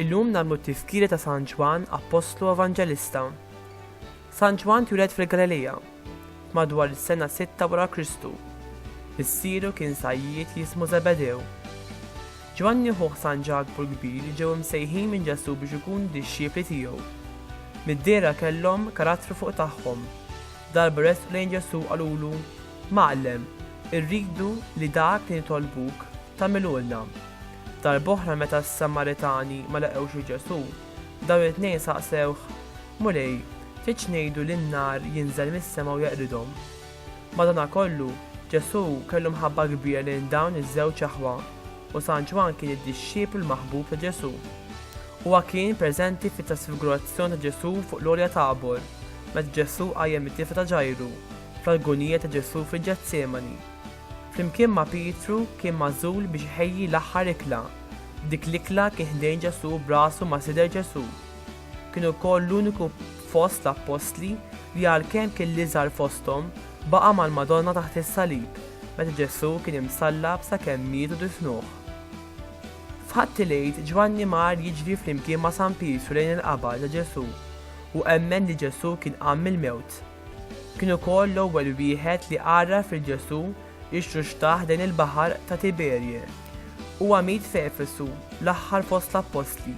Illum nagħmlu t-tifkira ta' San Ġwann Appostlu Evanġelista. San Ġwann twieled fil-Galilija, madwar is-sena sitta wara Kristu. Missieru kien sajjied li jismu Żebedew. Ġwanni ħuh San Ġakbu l-Kbir ġew imsejħin minn Ġesù biex ikunu dixxipli tiegħu. Mid-dehra kellhom karattru fuq tagħhom. Darba resqu lejn Ġesù qalulu, Mgħallem, irridu li dak li nitolbuk, tagħmilulna. Darb'oħra meta s-Samaritani ma laqgħux lil Ġesù, dawn it-tnejn saqsewh, Mulej, x'għidx ngħidu li n-nar jinżel mis-sema u jeqridhom! Madanakollu, Ġesù kellu mħabba kbira lejn dawn iż-żewġ aħwa, u San Ġwann kien id-dixxiplu l-maħbub ta' Ġesù. Huwa kien preżenti fit-trasfigurazzjoni ta' Ġesù fuq l-Għolja Tabor, meta Ġesù qajjem it-tifla ta' Ġajru, fl-agunija ta' Ġesù fil-Ġetsemani. Flimkien ma' Pietru kien magħżul biex iħejji l-aħħar ikla. F'dik l-ikla kien ħdejn Ġesù b'rasu ma' sider Ġesù. Kien ukoll l-uniku fost l-appostli li għalkemm kien l-iżgħar fosthom, baqa' mal-Madonna taħt is-salib meta Ġesù kien imsallab sakemm miet u difnuh. F'Ħadd il-Għid Ġwanni mar jiġri flimkien ma' San Pietru lejn il-qabar ta' Ġesù u emmen li Ġesù kien qam mill-mewt. Kien ukoll l-ewwel wieħed li għarraf lil Ġesù ixxuxtaħ lejn il-baħar ta' Tiberje. Huwa miet f'Efesu, l-aħħar fost l-appostli.